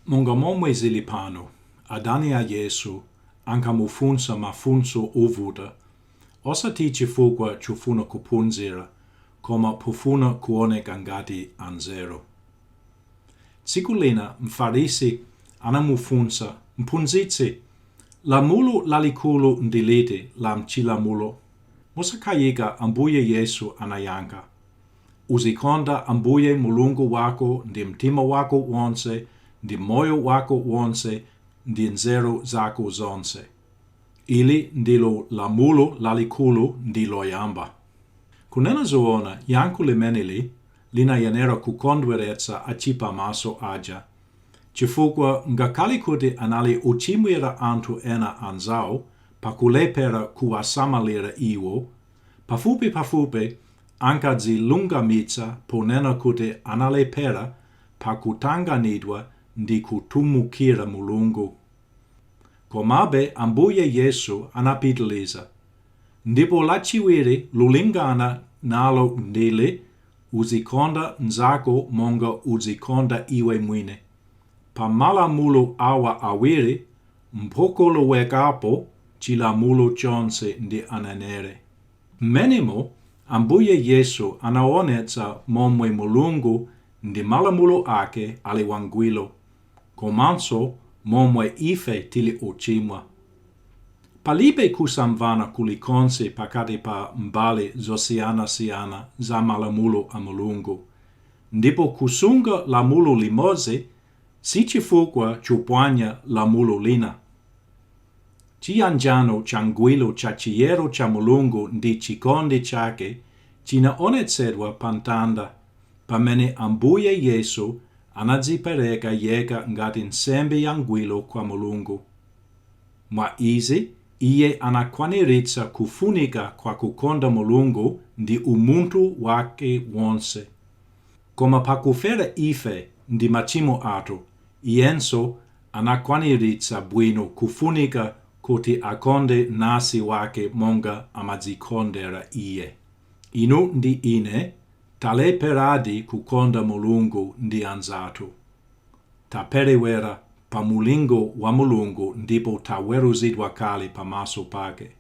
Monga momwe zili pano, adani a Yesu ankamufunsa mafunso ovuta, osati chifukwa chofuna kuphunzira, koma pofuna kuoneka ngati anzeru. Tsiku lina Mfarisi anamufunsa, Mphunzitsi, lamulo lalikulu ndi liti la m'Chilamulo? Mosakayika, Ambuye Yesu anayankha, Uzikonda Ambuye Mulungu wako ndi mtima wako wonse, ndi moyo wako wonse, ndi nzeru zako zonse. Ili ndilo lamulo lalikulu ndi loyamba. Kunena zoona, yankho limeneli linayenera kukondweretsa achiphamaso aja, chifukwa ngakhale kuti anali ochimwira anthu ena anzawo pakulephera kuwasamalira iwo, pafupipafupi Ankadzilungamitsa ponena kuti analephera pa kutanganidwa ndi kutumikira Mulungu. Komabe Ambuye Yesu anapitiliza, Ndipo lachiwiri lolingana nalo ndi ili, Uzikonda nzako monga udzikonda iwe mwini. Pa malamulo awa awiri mpokolowekapo chilamulo chonse ndi aneneri. Mmenemo, Ambuye Yesu anaonetsa momwe Mulungu ndi malamulo ake ali wangwiro, komanso momwe ife tili ochimwa. Palibe kusamvana kulikonse pakati pa mbali zosiyanasiyana za malamulo a Mulungu, ndipo kusunga lamulo limodzi si chifukwa chophwanya lamulo lina. Chiyanjano changwiro cha chiyero cha Mulungu ndi chikondi chake chinaonetsedwa pa mtanda, pamene Ambuye Yesu anadzipereka yekha ngati nsembe yangwiro kwa Mulungu. Mwa izi, Iye anakwaniritsa kufunika kwa kukonda Mulungu ndi umunthu wake wonse. Koma pakufera ife ndi machimo athu, Iyenso Anakwaniritsa bwino kufunika kuti akonde mnansi wake monga amadzikondera iye. Inu ndi ine talepheradi kukonda Mulungu ndi anzathu. Taperewera pa mulingo wa Mulungu ndipo taweruzidwa kale pamaso pake.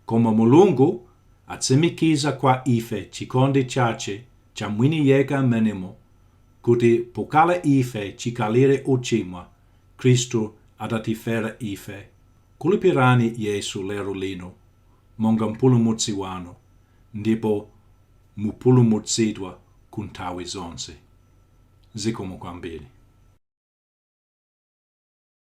Koma Mulungu atsimikiza kwa ife chikondi chache cha mwini yekha m'menemo kuti pokhala ife chikhalire ochimwa, Khristu adatifera ife, khulupirani Yesu lero lino monga Mpulumutsi wanu, ndipo mupulumutsidwa ku nthawi zonse. Zikomo kwambiri.